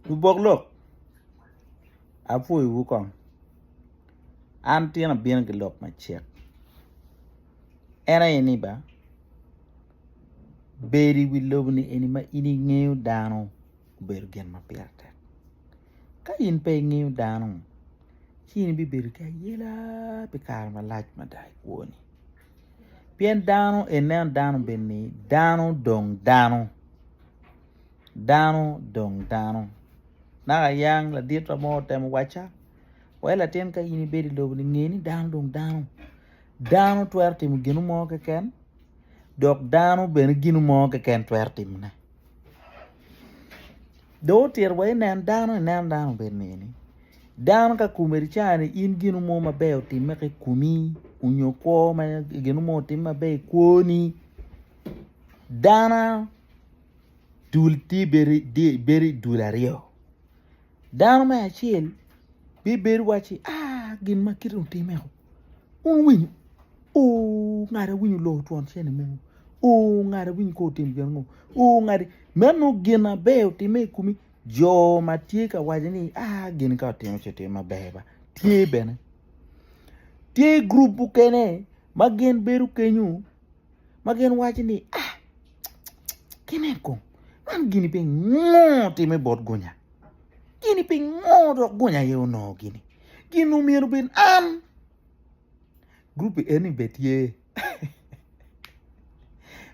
Lubok lok, apwoyowu kong. An tin abino ki lok macek, en aye ni ba, bedo i wi lobo-ni eni ma in ingeyo dano obedo gin ma pire tek. Ka in pe ingeyo dano, ci in ibibedo ki ayela pi kare malac mada i kwoni. Pien dano, ineno dano bed ni dano dong dano. Dano dong dano. Naka yang laditwa mo otemo wacca, Wai latin ka in ibedo i lobo-ni, nge ni dano dong dano. Dano twero timo gino mo keken, dok dano bene gino mo keken twero timone. Dong otito wa inen dano, inen dano bene neni. Dano ka komedi cani in gino mo maber otimme ki i komi onyo kwo ma gino mo otimme maber i kwoni, dana. dul tye bedo i dul aryo dano me acel bibedo wacci aa gin ma kiti ni otime ku wun wuwinyo oo ngat awinyo oloko twon cene mo oo ngat awinyo kong otim gin ango oo ngat meno gin aber otime i komi jo ma tye ka waco ni aa gin ka otimo ci otim maber ba tye bene tye gurup mukene ma gin bedo kenyo ma gin waco ni, Ah, kinen kong, man gini pingo timme bot gunya? Gini pingo dok gunya aye onongo gini? Gin omyero obed an. Gurup eni bene tye.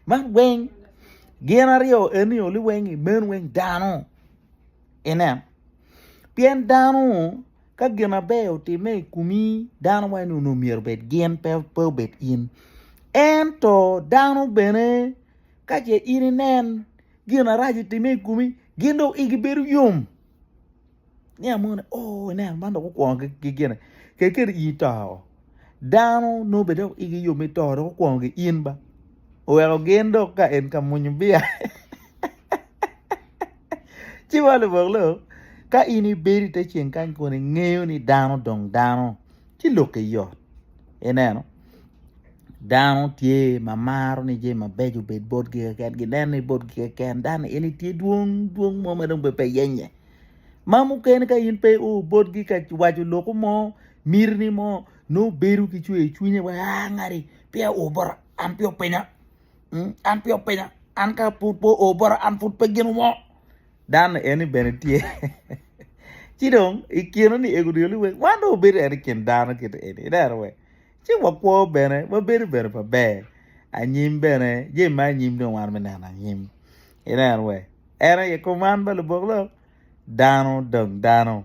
Man weng gin aryo eni oli weng imen weng dano. Inen, pien dano Ka gin maber otimme i komi, dano wai ni onongo myero obed gin, pe obed in. Ento dano bene ka ce in inen gin arac otimme i komi, gin dong igi bedo yom. Ni amoni, o, oh, ineno man dong okwongo ki gine, kede kede in ito. Dano nongo bene dok igi yom me to dok okwongo ki in ba. Oweko gin dok ka en ka mwonyo bia. Ci wa lubok lok, ka in ibedo i te ceng kany kun ingeyo ni dano dong dano, ci lokke yot. Ineno? Dano tye ma maro ni jami mabeco obed botgi keken, gineno ni botgi keken, dano en tye dwong, dwong mo ma dong bene pe yenye. Ma mukene ka in pe o botgi ka waco loku mo, mitini mo, nongo bedo ki cwer i cwinye wa, ah ngati, peya o bota, an peya opinya. mm, an pe openya an ka pud po o bota an pud pe gin mo dan en ni bene tye ci dong i kine ni ego dyoli weng wan dong obedo en i kin dano kiti eni ineno we ci wakwo bene wabedo bene pa ber anyim bene je ma anyim dong wan me neno anyim ineno we en aye kom man ba lubok lo dano dong dano